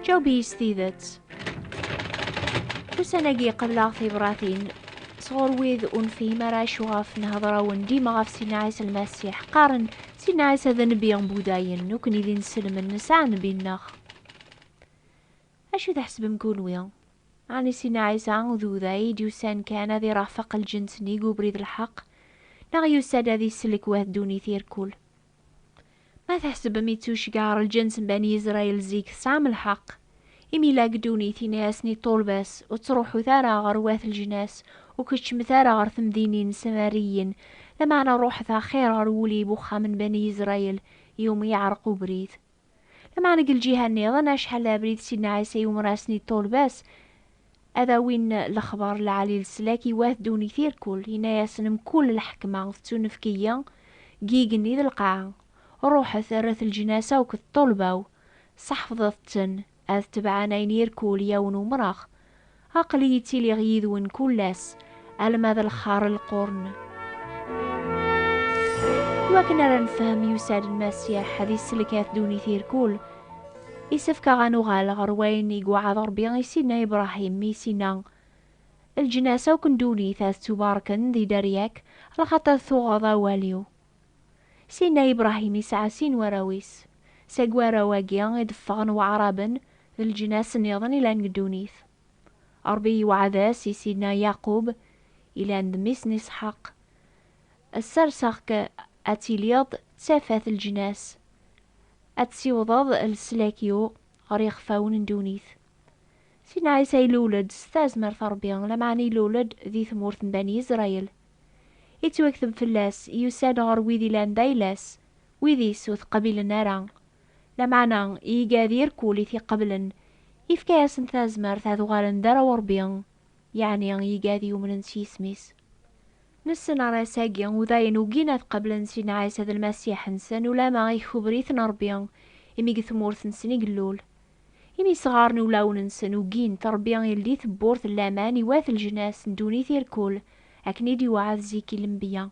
Jaweb-iyi s tidet. Ussan-agi qebleɣ tibratin sɣur wid ur nefhim ara acu ɣef nhedra-wen dima ɣef Sidna Ɛisa Lmasiḥ. Qqaren, Sidna Ɛisa d nnbi n Budayen, nekkni d inselmen nesɛa nnbi-nneɣ. Acu tḥesbem kunwi? Ɛni Sidna Ɛisa d Uday i d-yusan kan ad irafeq lǧens-nni deg ubrid n lḥeqq, neɣ yusa-d ad isellek wah ddunit irkul? Ma tḥesbem i tucga ar lǧens n Bani Israel zik, tesɛam lḥeqq. Imi la deg ddunit, yenna-yasen i ṭṭulba-s, Ur ttruḥut ara ɣer wat lejnas, ur keččmet ara ɣer temdinin n Samariyen, lameɛna ṛuḥet axir ɣer wulib uxxam n Bani Israel, iwumi yeɛreq ubrid. Lameɛna deg lǧiha nniḍen, acḥal d abrid Sidna Ɛisa i umras n yiṭṭulba-s ad awin lexbar lɛali leslak i wat ddunit irkul, yenna-yasen, Mkul lḥekma tettunefk-iyi deg yigenni d lqaɛa. Ruḥet, rret leǧnas akk d ṭṭulba-w, sseḥfḍet-ten. Ad tebɛen ayen irkul yawen umrax. Aql-iyi ttiliɣ yid-wen kull ass, alma d lxar lqurn. Iwakken ara nefhem, yusa-d Lmasiḥ ad isselkat ddunit irkul. Isefk-aɣ ad nuɣal ɣer wayen i iweɛɛed Rebbi i Sidna Ibrahim, mi is-inna, Lǧnas akk n ddunit ad ttubarken di dderya-k, lxaṭer tuɣeḍ awal-iw. Syenna Ibṛahim isɛa sin warraw-is. Seg warraw-agi i d-ffɣen waɛṛaben d leǧnas nniḍen ilan deg ddunit. Ṛebbi yewɛed-as i Syenna Yaqub, ilan d mmi-s n Isḥaq, Sserseɣ-k ad tiliḍ d tafat n leǧnas, ad tessiwḍeḍ leslak-iw ɣer yixfawen n ddunit. Syenna Ɛisa ilul-d s tazmert n Ṛebbi, lameɛna ilul-d di tmurt n Bani Isṛayil. Ittwakteb fell-as, yusa-d ɣer wid ilan d ayla-s, wid-is ur t-qbilen ara. Lameɛna, i iga d irkul i t-iqeblen, ifka-yasen tazmert ad uɣalen d arraw n Rebbi, yeɛni iga d yumnen s yisem-is. Nessen arras-agi, u dayen ugin ad qablen Sidna Ɛisa d Lmasiḥ-nsen, ulamma ikubber-iten Rebbi, imi deg tmurt-nsen i yellul. Imi isɣaren i wulawen-nsen ugin, Ṛebbi ildi tewwurt n laman i wat leǧnas n ddunit irkul, akken i d-iweɛɛed zik i lenbiya.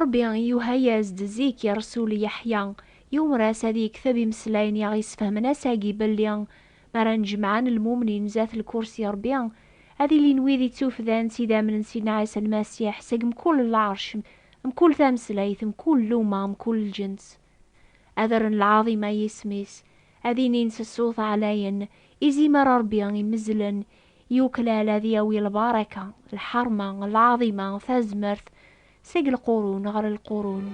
Ṛebbi yuha-yas-d zik i ṛṛsul Yeḥya, yumer-as ad yekteb imeslayen i aɣ-yesfehmen ass-agi belli mi ara nnejmaɛen lmumnin zdat lkursi Ṛebbi, ad ilin wid ittufdan s idammen n Sidna Ɛisa Lmasiḥ seg mkul lɛerc, mkul tameslayt, mkul lluma, mkul lǧens. Ad rren lɛaḍima i yisem-is, ad inin s ṣṣut ɛlayen, Izimer Ṛebbi imezzlen, yuklal ad yawi lbaraka, lḥeṛma, lɛaḍima, tazmert, seg lqurun ɣer lqurun.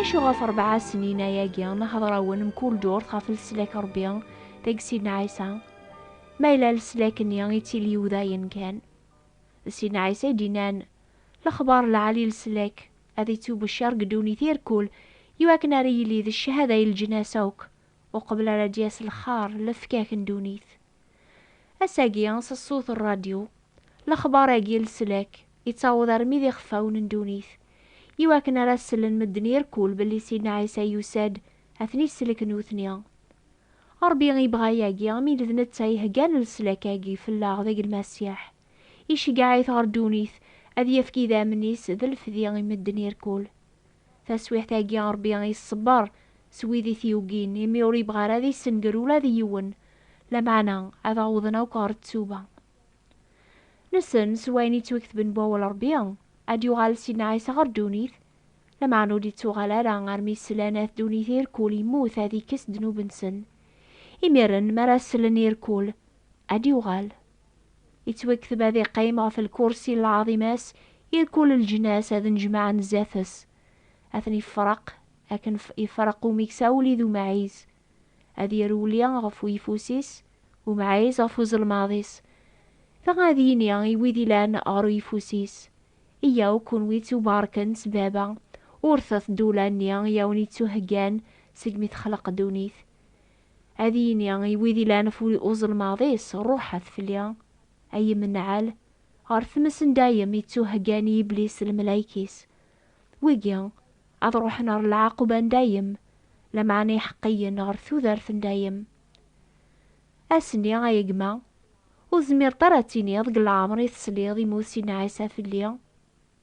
Acu ɣef ṛebɛa snin-aya-gi nhedṛ-awen mkul ddurt ɣef leslak n Ṛebbi deg Sidna Ɛisa? Ma yella leslak-nni ittili udayen kan. D Sidna Ɛisa i d-innan, Lexbaṛ lɛali leslak. ad ittubecciṛ deg ddunit i rkul, i wakken ara yili d ccahada i leǧnas akk, uqbel ara d-yas lxaṛ, lefkak n ddunit. Ass-agi, s ṣṣut n ṛṛadyu, lexbaṛ-agi n leslak ittaweḍ armi d ixeffawen n ddunit, i wakken ara as-sellen medden i rkul belli Sidna Ɛisa yusa-d ad ten-isellek nutni. Ṛebbi ibɣa yagi, mi d d netta iheggan leslak-agi fell-aɣ deg Lmasiḥ. Iceggeɛ-it ɣer ddunit, ad yefk idammen-is d lefdi i medden irkul. Taswiɛt-agi Ṛebbi iṣebber s wid i t-yugin, imi ur ibɣi ara ad issenger ula d yiwen, lameɛna ad awḍen akk ɣer ttuba. Nessen s wayen yettwaketben n wawal Ṛebbi, ad d-yuɣal Sidna Ɛisa ɣer ddunit, lameɛna ur d-ittuɣal ara armi slan at ddunit irkul, yemmut ad ikkes ddnub-nsen. Imiren mi ara slen irkul, ad d-yuɣal. Ittwekteb ad iqqim ɣef lkursi n lɛaḍima-s i rkul leǧnas ad nnejmaɛen zdat-s. Ad ten-ifreq akken ifreq umikes awli d umɛiz. Ad irewli ɣef uyeffus-is, umɛiz ɣef uzelmaḍ-is. Dɣa ad yini i wid ilan ɣer uyeffus-is, Iyyaw kunwi ttubarken s Baba, urtet-d ula-nni i awen-ittuheggan segmi texleq ddunit. ad yini i wid ilan ɣef uzelmaḍ-is, Ruḥet fell-i, ay imenɛal, ɣer tmes n dayem i ttuheggan i Yiblis d lmelayek-is. Wigi, ad ruḥen ɣer lɛaquba n dayem, lameɛna iḥeqqiyen ɣer tudert n dayem. Ass-nni, ay a gma, ur tezmireḍ ara ad tiniḍ deg leɛmer i tesliḍ i Musi n Ɛisa fell-i?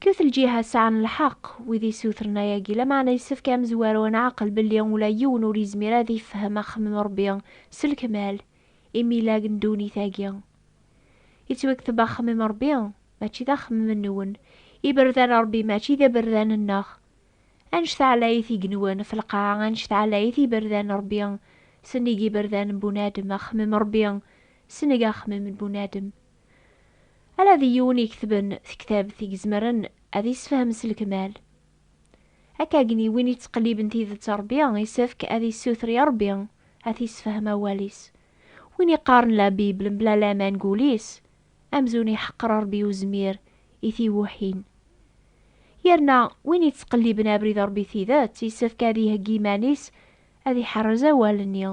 Kket lǧiha sɛan lḥeq wid isutren ayagi, lameɛna yessefk ad amezwaru ad nɛaqel belli ula yiwen ur yezmir ad ifhem axemmem n Rebbi s lekmal, imilag n ddunit agi. Yettwakteb axemmem n Rebbi, mačči d axemmem nwen, iberdan n Rebbi mačči d iberdan nneɣ. Anect ɛlayit igenwan ɣef lqaɛa, anect ɛlayit iberdan n Rebbi, sennig iberdan n bunadem, axemmem n Rebbi, seneg axemmem n bunadem. Ala d yiwen iketben tektabt i izemren ad isefhem s lekmal. Akkagen i win ittqelliben tidet Rebbi isefk ad issuter i Rebbi ad t-isefhem awal-is. Win iqqaren la Bible mebla laman deg wul-is, amzun iḥeqqer Rebbi uzmir i tiwuḥin. Yerna win ittqelliben abrid Rebbi tidet isefk ad iheggi iman-is ad iḥerrez awal-nni,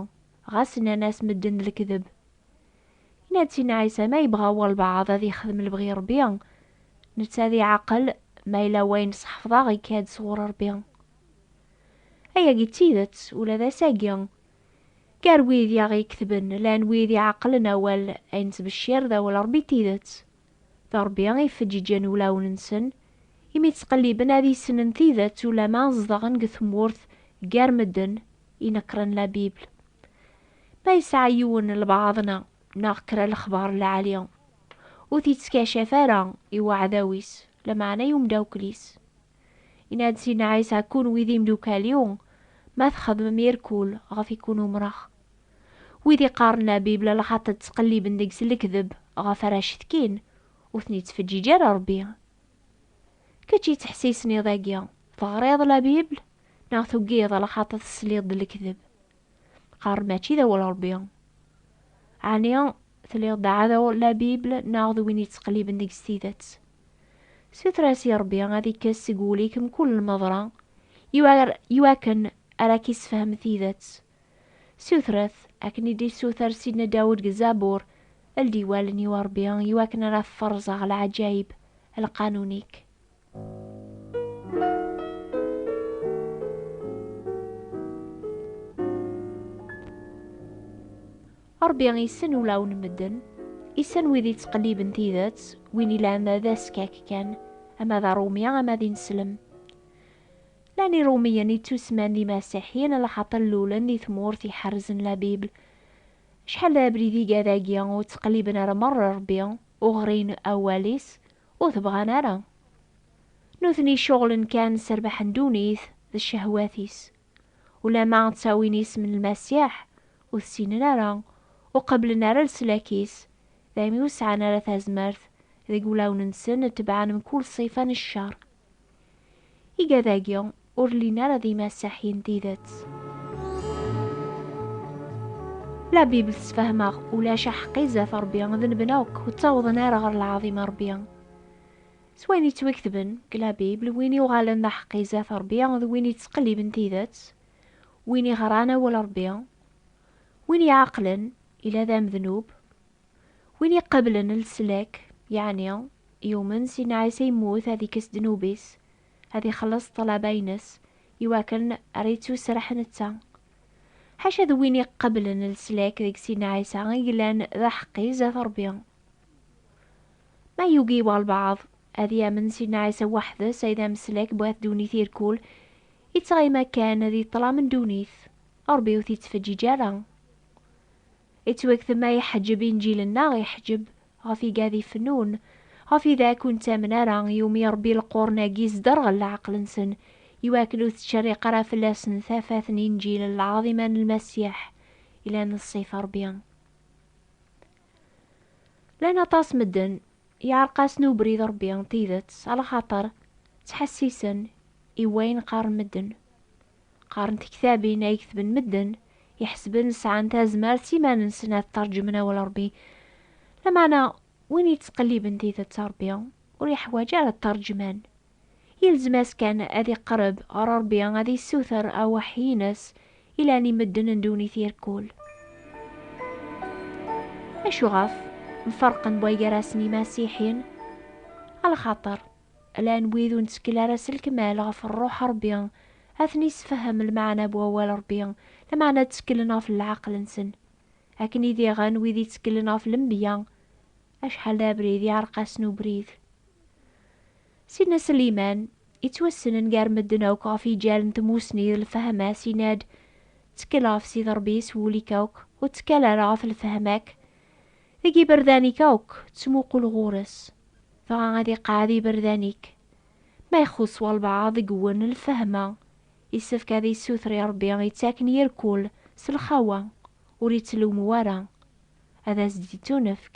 ɣas nnan-as medden d lekdeb. Yenna-d Sidna Ɛisa, ma yebɣa walbeɛḍ ad yexdem lebɣi Ṛebbi, netta ad iɛaqel, ma yella wayen sḥefḍeɣ ikka-d sɣur Ṛebbi. Ayagi d tidet ula d ass-agi. Gar wid i aɣ-iketben, llan wid iɛeqlen awal ay nettbeccir d awal Ṛebbi n tidet. D Ṛebbi i yefeǧǧiǧen ulawen-nsen, imi ttqelliben ad issnen tidet ulamma zedɣen deg tmurt gar medden inekkṛen la Bible. Ma yesɛa yiwen lbaɛḍna neɣ kra lexbaṛ lɛali, ur t-ittkaccaf ara i uɛdaw-is, lameɛna i umdakkel-is. Yenna-d Sidna Ɛisa, Kunwi d imdukal-iw ma txedmem irkul ɣef i kun-umṛeɣ. Wid iqqaren Labibla lxaṭi ttqelliben deg-s lekdeb ɣef ara cetkin, ur ten-ittfeǧǧiǧ ara Rebbi. Kečč yettḥessisen iḍ-agi, teɣriḍ Labibla neɣ tugiḍ lxaṭi tesliḍ-d lekdeb? Qqaren mačči d awal Rebbi. Ɛni tliḍ d aɛdaw Labibla neɣ d win yettqelliben deg-s tidet? Suter-as i Rebbi ad ikkes seg wul-ik mkul lmeḍra iwakken ara k-issefhem tidet. Sutret, akken i d-issuter Sidna Dawed deg Zabur, Ldi wallen-iw, a Ṛebbi, i wakken ara ferẓeɣ leɛǧayeb n lqanun-ik. Ṛebbi issen ulawen n medden, issen wid yettqelliben tidet, win yellan d askak kan, ama d aṛumi ama d ineslem. Llan Iṛumiyen ittusman d imasiḥiyen laxaṭer lulen di tmurt iḥerrzen la Bible. Acḥal d abrid iga dagi, ur ttqelliben ara meṛṛa Ṛebbi, ur ɣrin awal-is, ur t-bɣan ara. Nutni ceɣlen kan s rrbeḥ n ddunit d ccehwat-is. Ulamma ttawin isem n Lmasiḥ, ur t-ssinen ara, ur qebblen ara leslak-is, daymi ur sɛan ara tazmert deg wulawen-nsen tebɛen mkul ṣṣifa n cceṛ. Igad-agi ur llin ara d imasaḥi n tidet. La Bible tesfehmeɣ ulac aḥeqqi zdat Rebbi d nebna akk ur ttawḍen ara ɣer lɛaḍim n Rebbi. S wayen yettwaketben deg la Bible, win yuɣalen d aḥeqqi zdat Rebbi d win yettqelliben tidet, win iɣran awal Rebbi, win iɛeqlen ila d amednub, Win iqablen leslak, yeɛni yumen Sidna Ɛisa yemmut ad ikkes ddnub-is, ad ixelleṣ ṭṭlaba-ines, iwakken ara ittuserreḥ netta. Ḥaca d win iqablen leslak deg Sidna Ɛisa i yellan d aḥeqqi zdat Ṛebbi. Ma yugi walbeɛḍ ad yamen Sidna Ɛisa weḥd-s ay d ameslak bu at ddunit irkul, ittɣima kan di ṭṭlam n ddunit, Ṛebbi ur t-ittfeǧǧiǧ ara. Ittwaktem a iḥeǧǧeb inǧil-nneɣ iḥeǧǧeb ɣef igad ifennun, ɣef idak ur nettamen ara, iwumi Ṛebbi lequrn-agi isderɣel leɛqel-nsen, iwakken ur tettcerriq ara fell-asen tafat n inǧil n lɛaḍima n Lmasiḥ yellan d ṣṣifa Ṛebbi. Llan aṭas medden yeɛreq-asen ubrid n Ṛebbi n tidet, alaxaṭer ttḥessisen i wayen qqaren medden. qqaren tektabin ay ketben medden iḥesben sɛan tazmert s iman-nsen ad tṛejmen awal Ṛebbi. Lameɛna, win yettqelliben tidet n Ṛebbi ur yeḥwaj ara tṛejman. Yelzem-as kan ad iqerreb ɣer Ṛebbi ad yessuter aweḥḥi-nnes ilan i medden n ddunit irkul. Acuɣef mfarqen buygarasen imasiḥiyen? Alxaṭer, Ala n wid ur nettkel ara s lkmal ɣef Rruḥ Ṛebbi, ad ten-issefhem lmeɛna n wawal Ṛebbi, lameɛna tteklen ɣef leɛqel-nsen. Akken i diɣen wid itteklen ɣef lenbiya, acḥal d abrid iɛeṛeq-asen ubrid. Sidna Sliman, ittwassnen gar medden akk ɣef yiǧal n tmusni d lfehma-s, yenna-d, Ttekkel ɣef Sidi Ṛebbi s wul-ik akk, ur ttekkal ara ɣef lfehma-k. Deg yiberdan-ik akk ttmuqul ɣur-s, dɣa ad iqeɛɛed yiberdan-ik. Ma ixuṣṣ walbeɛḍ deg-wen lfehma, yessefk ad yessuter i Ṛebbi ittaken yir kul s lxawa, ur ittlewmu ara, ad as-d-ittunefk.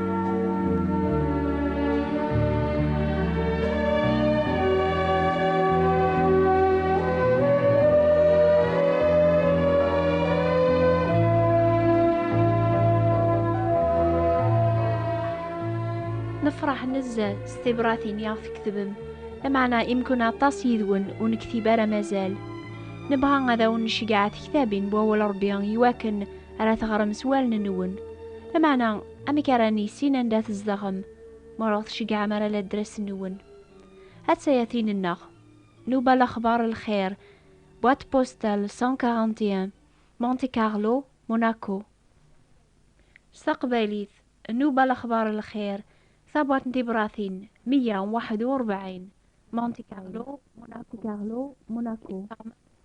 nefṛeḥ nezzeh s tibratin i aɣ-tkettbem lameɛna imkun aṭas yid-wen ur nektib ara mazal nebɣa ad awen-necgeɛ tektabin n wawal Ṛebbi iwakken ara teɣrem s wallen-nwen. Lameɛna, amek ara nissin anda tzedɣem, ma ur aɣ-tceggɛem ara ladres-nwen? A tayatin-nneɣ, Nuba Lexbar Lxir, boîte postale 141, Monte Carlo, Monaco. S taqbaylit, Nuba Lexbar Lxir, tabwaṭ n tibratin 141, Monte Carlo, Monaco.